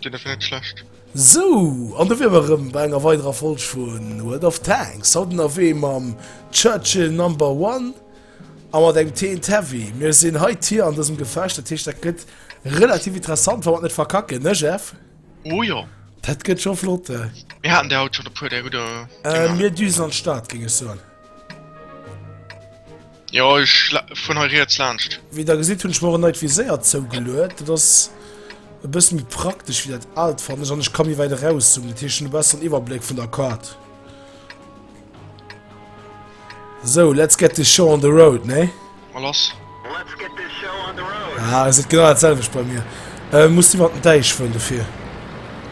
Deen ass direkt schlecht. Sou, an do wier mer erëm bei enger weiderer Folg vu World of Tanks. Haut ënnerwee mam Churchill Number One a mat engem Teent Heavy. Mir sinn hei Tier an dësem Gefecht, dat heescht dat gëtt relativ interessant, wa mer et net verkacken, ne Jeff? Oh jo! Dat gëtt scho flott. Mir haten der haut schonn e puer, där hutt der. Mir düsen an d'Stad, géing ech soen. Jo ech fueren hei riets laanscht. Wéi der gesitt hunn ech mer och en neit Viséier zougeluet. Dat ass e bësse méi praktesch wéi dat aalt fannen ech an ech ka méi wäit eraus zoomen. Dat heescht ech hunn e besseren Iwwerbléck vun der Kaart. Sou let's get this show on the road ne? Mol ass. Ah se genau dat selwecht bei mir. Äh muss iwwer den Däich fueren dofir.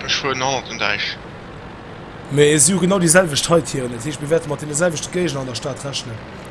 Ech fueren hanner den Däich. Mee si hu genau déi selwecht Haitieren, dat heescht mir wäerte mat deene selwechte Géigner an der Stad rechnen.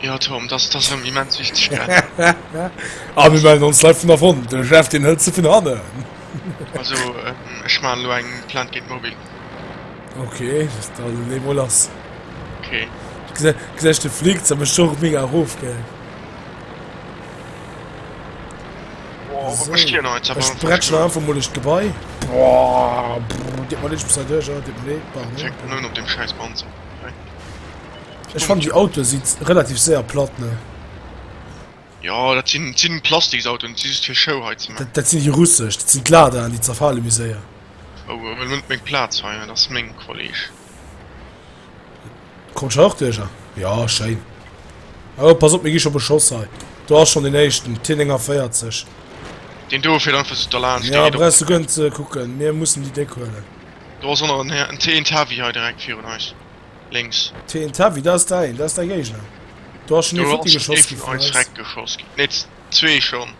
Jo Tom, dass dass erëm immens wichteg gell. A mir melden ons live vun der Front, de Jeff deen hëlt se vun hanne. Also ähm, ech man elo eng Plainte géint Mobil. Ok, da lee mol lass. Okay. Gesäit de fliegt ze mech och mega erof gell. Bretschen einfach mol ech gebai Di man net bescheit op dem Scheiß Panzer. Ech fand die Auto si relativ séier platt ne. Jo dat sinn sinn Plastiksautoen, si just fir Show hei ze man. Dat sinn déi russesch, dat sinn d'Ladaen, déi zerfale méi séier. Oh huel mol net meng Plaz hei, dat ass meng Kolleg. Komm ech hei och duerch? Jo schéin. Oh pass op mir gi scho beschoss hei. Do ass schonn deen éischten, T49. Deen do fiert einfach sou derlaanscht. Jo brauchs du guer net ze kucken, mir mussen déi déck huelen. Do ass och nach en Här, en T, en Tavi hei direkt virun eis. Lénks. Teletubby, dat ass däin, dat ass däi Géigner. Do ass schonn ee futti geschoss gi vun eis. Nee, zwee schonn.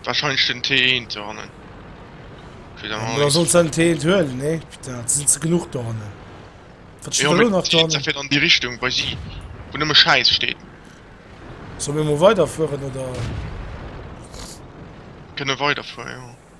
Warscheinlech den T1 dohannen. Du solls den T1 huelen, nee? Putain, et sinn ze genuch dohannen. Wat steet da lo nach dohannen? Jo, mee fir an déi Richtung bei si, wou nëmme Schäiss steet. Solle mir emol weiderfueren, oder? Kënne weiderfueren, jo.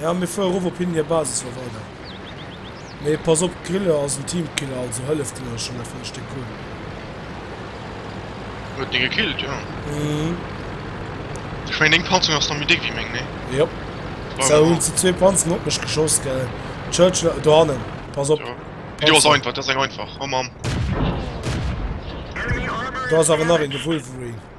Ja mir fuer erof op hinnen hier Basis wa weider mee pass op d'Grille ass en Teamkiller also hëllef den Leit schonn dat fënneft Stéck Kohle. Huet dee gekillt jo. Mhm. Ech mengen deng Panzung ass nach méi déck wéi meng nee? Jop. Brauch Sou hunn se zwee Panzeren op mech geschoss gell Churchill dohannen pass op. Déi do ass einfach dat ass eng einfach oh Mamm. Do ass awer nach een de Wolverine.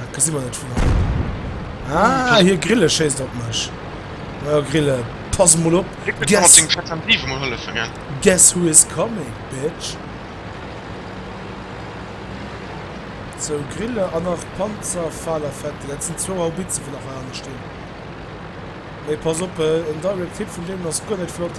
Dat gesi mer net vun hei. Ah, hier Grille schéisst op mech. Ja, Grille, pass mol op. Guess, guess who is coming, bitch. So, Grille an nach Panzer, Faler, Fette. Dat sind zwou Haubitzen, wo nach Wagen stinn. Mee pass op, en Direct Hit vun deenen ass guer net flott.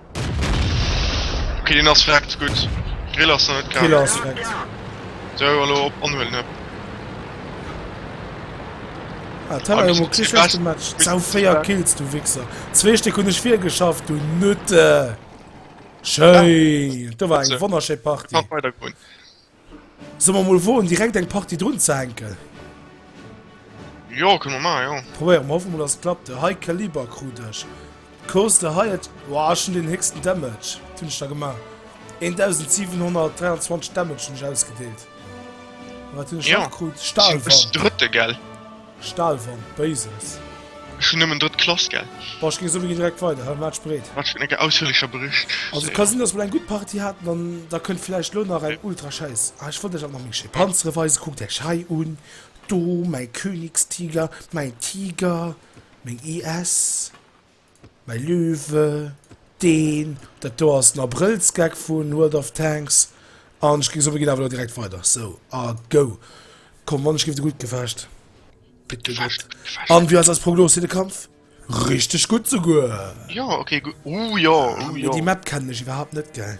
Ok deen ass vreckt, gutt. Grill ass nach net kal. Griller ass vreckt. Sou elo op anhuelen hëpp. Ah Teller hu mer kee schlecht gematcht. Sau 4 Kills du Wichser. Zwee Stéck hunn ech virgeschafft du Nutte. Schéin. Do war eng wonnerschéi Partie. Weider gewunn. Solle mer mol woen direkt eng Partie drun ze hänken? Jo kënne mer man jo. Probéiere mer, hoffe mol dass et klappt. E high caliber krut ech. Coz de highest, woah ech hunn den héchsten Damage, wat hunn ech da gemaach? 1723 Damage hunn ech ausgedeelt. Wat hunn ech nach krut? Stahlwand. Sinn ech den drëtte gell? Stahlwand, Basics. Ech hun nëmmen drëtt Klass, gell? Bon, ech gin souwéi direkt weider, hei, maach dech bereet. Wat fir eng ausführlicher Bericht. Also ka sin dass mer eng gudd Partie haaten an da könnt vielleicht lo nach eng ultra scheiss, ah ech wollt iech awer nach méng schéi Panzere weisen, kuckt iech hei un, do mäi Königstiger, mäi Tiger, méng IS. Mäi Liwe, deen, dat do ass den Abrëllsgag vun World of Tanks, an ech ginn sou, mir ginn awer elo direkt weider, sou, a go! Komm, wann ech géif de gutt gefecht. Gutt gefecht, gutt gefecht. An wéi ass eis Prognos fir de Kampf? Richteg gutt souguer! Jo, ok, gu, uh jo, uh jo. Déi Map kennen ech iwwerhaapt net, gell?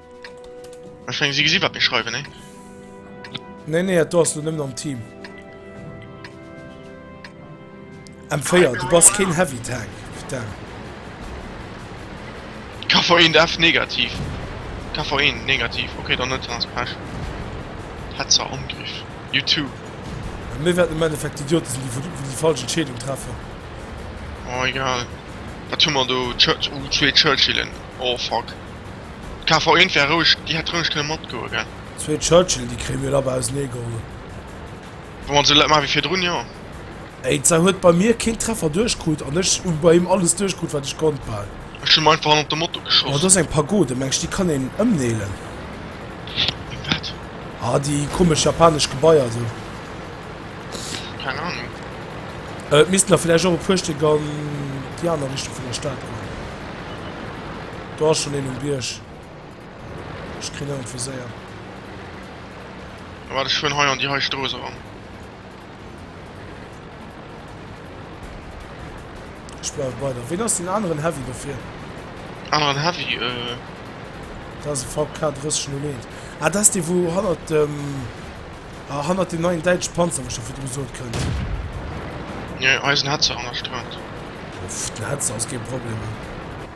Ech meng si gesi wat mir schreiwen ne? Nee nee do ass du nëmmen am Team. M4 du bass keen heavy tank. Putain. KV1 F negativ. KV1 negativ. Okay, dann net ans Pech. Hetzer Angriff. You too. Mir werden im Endeffekt Idioten sind, die, die die falsche Entscheidung treffen. Oh, egal. Was tun wir da? Church, oh, zwei Churchillen. Oh, fuck. D'KV-Eent wär roueg, déi hätt roueg kënne matgoe gell? Zwee Churchill, déi kréie mir labber ausernee geholl. Wa mer et esou maache wéi virdrun, jo. Eitzer huet bei mir keen Treffer duerchkrut an ech hu bei him alles duerchkrut, wat ech konnt, bal. Ech hunn mer einfach hannert de Moto geschoss. Oh, do ass eng Pagode. Mengs déi kann een ëmneelen? Eng wat? Ah, déi komesch japanesch Gebaier do. Keng Ahnung. Et missten der villäicht och e puer Stéck an déi aner Richtung vun der Stad kommen. Do ass schon een um Bierg. Ech kritt en net viséiert. A waart, ech fueren hei an déi hei Strooss eran. Ech bleiwe bei der. Ween ass den aneren Heavy dofir? Aneren Heavy, euh. Dat ass e VK 3001. Ah, dat ass dee, wou hannert dem. Ah, hannert dem neien däitschen Panzer, wou ech do virdru sot, kënnt. Nee, hei ass en Hetzer an der Strat. Pff, den Hetzer ass kee Problem.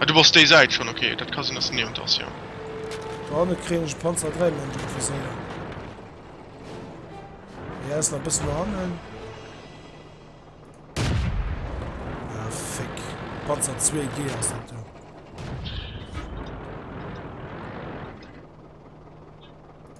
Ah du bass déi Säit schon, ok dat ka sinn dass de niewent ass jo. Do hanne kréien ech e Panzer 3 méi an de Reviséier. Hie ass nach bëssen no hannen. Ah, fick. Panzer 2 G ass dat do.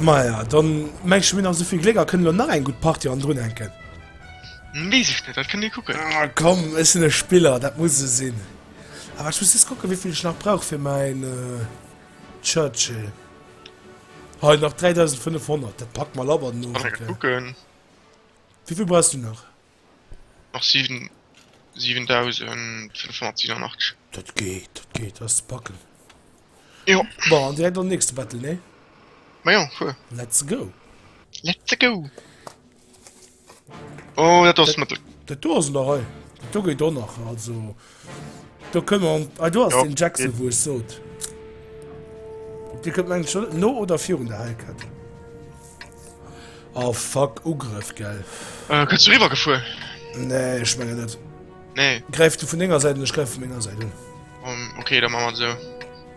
Maja, dann mengs du mir nach souvill Gléck a kënnen elo nach eng gutt Partie andrun hänken. Wees ech net, dat kënnt dir kucken. Ah, komm, ech sinn e Spiller, dat muss esou sinn. Awer ech muss just kucken, wéi vill ech nach brauch fir mäin Churchill. Hei, nach 3.500, dat packt mer labber den Owend, Kucken. Wéi vill brauchs du nach? Nach 7587. Dat geet, dat geet, dat ass ze packen. Jo. Bon, an direkt an den nächste Battle, nee? Ma jo, fuer. Let's go! Let's go! Oh, dat do ass Mëttel. Dat do ass en der Rei. Dat do geet och nach, also. Do kënne mer an. Ah, do ass den Jackson, wou ech sot. Op Dir kënnt meng ech oder? No oder virun der Hellkett? Oh fuck, Ugrëff, gell? Äh, kënns du riwwer gefuer? Nee, ech menge net. Nee. Gräif du vun denger Säit un, ech gräif vun menger Säit un. Um, okay, da maache mer et esou.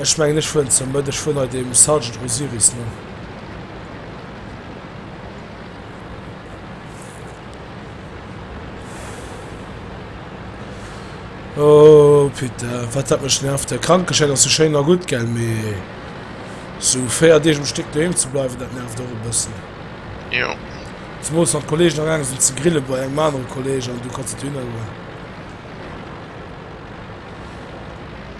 Ech mengen ech wuar zur Mëtt, ech wuar nei dem Sergeant Osiris no. Oh Pita, wat dat mech nervt. Der Krankeschäin ass jo schéin a gutt, gell, mee sou 4 Deeg um Stéck doheem ze bleiwen, dat nervt och e bëssen. Jo. Zemools wann d'Kollegen agaange sinn ze grille bei engem anere Kolleg an du kanns net dohinner goen.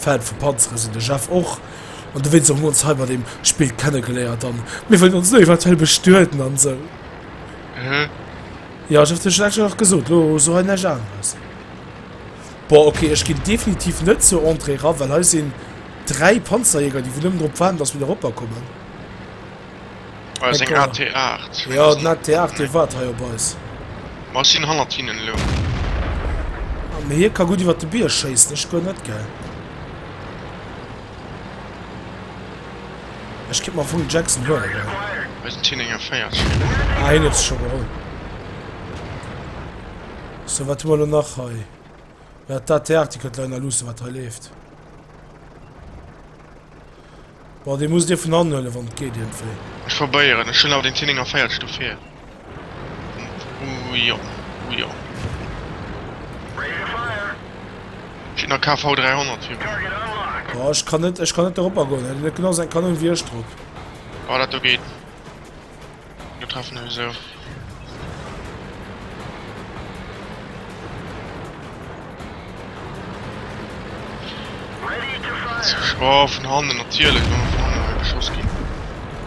Fan vu Panzeren sinn de Jeff och an de Vincent hunn ons hei bei deem Spill kennegeléiert an mir wëllen ons elo eventuell bestueden an esou. Mhm. Jo, ech hat dir schonn extra nach gesot, elo so hei näischt aneres. Boah, okay, ech ginn definitiv net zur Entrée ra, well hei sinn dräi Panzerjäger, déi wou nëmmen drop waarden, dass mir do eropper kommen. Eng AT8. Jo, den AT8 dee waart hei op eis. Ma ech sinn hannert hinnen elo. Ah, mee hie ka gutt iwwer de Bierg schéissen, ech guer net, gell? Ech kéint mer vum Jackson huelen, gell? Hei sinn 10, 41. Ah, hien huet se scho geholl. So, wat hu mer elo nach hei? Ja, d'AT8, déi kënnt lei nach luussen, wat hei leeft. Bon, dee musst Dir vun hannen huelen, wann et geet iergendwéi. Ech probéieren, ech hunn awer den Tinning a Véiertsch dofir. Ujo, ujo. Kritt nach KV 300 fir mech. Boah, ech kann net, ech kann net doropper goen. Huet en net genau säi Kanon wéi ech drop? Boah, dat do geet. Mir treffen eis esou. Oh, vun hannen natierlech wann vun hannen hei beschoss ginn.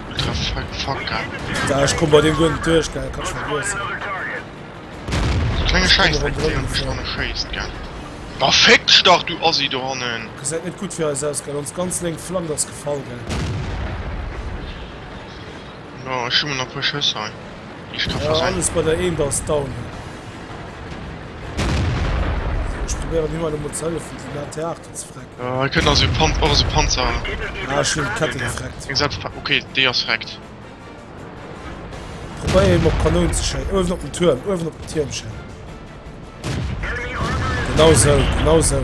Du treff fuck fuck geil. Da ech komm bei dem guer net duerch geil, kannst vergiessen. So klenge Scheiß dréckt déi an duerch hannen schéisst geil. Ba fick dech dach du Assi do hannen. Gesäit net gutt fir eis aus geil, ons ganz lénk Flank ass gefall geil. Jo ech hu mer nach puer Schëss hei déi ech ka versenken. Jo alles bei der eent ass down hei. Sou ech probéieren him hei emol ze hëllefen déi laat hei Aarten ze frecken. Jo hei kënnt nach esou och esou Panzer. Ah ech hunn d'Kette gefreckt. Deng self ok déi ass freckt. Probéier him op d'Kanoun ze schéi uewen op den Tuerm uewen op den Tierm schéi. Genau esou genau esou.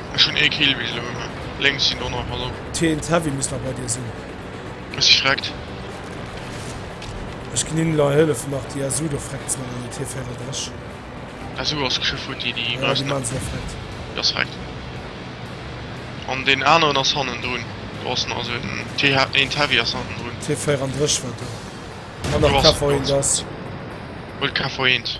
Ech hun ee Kill bis elo ëmmer lénks sin dono awer lo. Teens Heavy muss nach bei dir sin. Ech si freckt. Ech gin hin elo an hëllefen nach déi SU do freckt ze man an den Tier 34. SU ass geschwë futt déi déi Ja, déi man se elo freckt. Déi ass freckt an deen aneren ass hannen drun. Do ass nach esou en T een Heavy ass hannen drun. Tier 34 war do an nach KV 1 ass. Huel KV 1.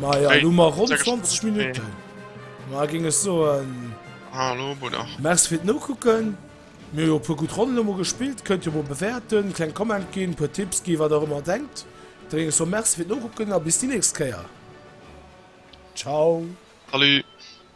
Maja, lo mer ronn 20 Minutten. Ma ging es so en. Hallo, Bruder. Merci fir no kucken. Mir jo puer gut Ronnen mo gespielt. Könnt jo mo bewerten, kleng Comment ginn, puer Tipps gi, wat der ëmmer denkt. Da ging es so Merci fir no kucken a bis déi nächst Kéier. Ciao. Salut.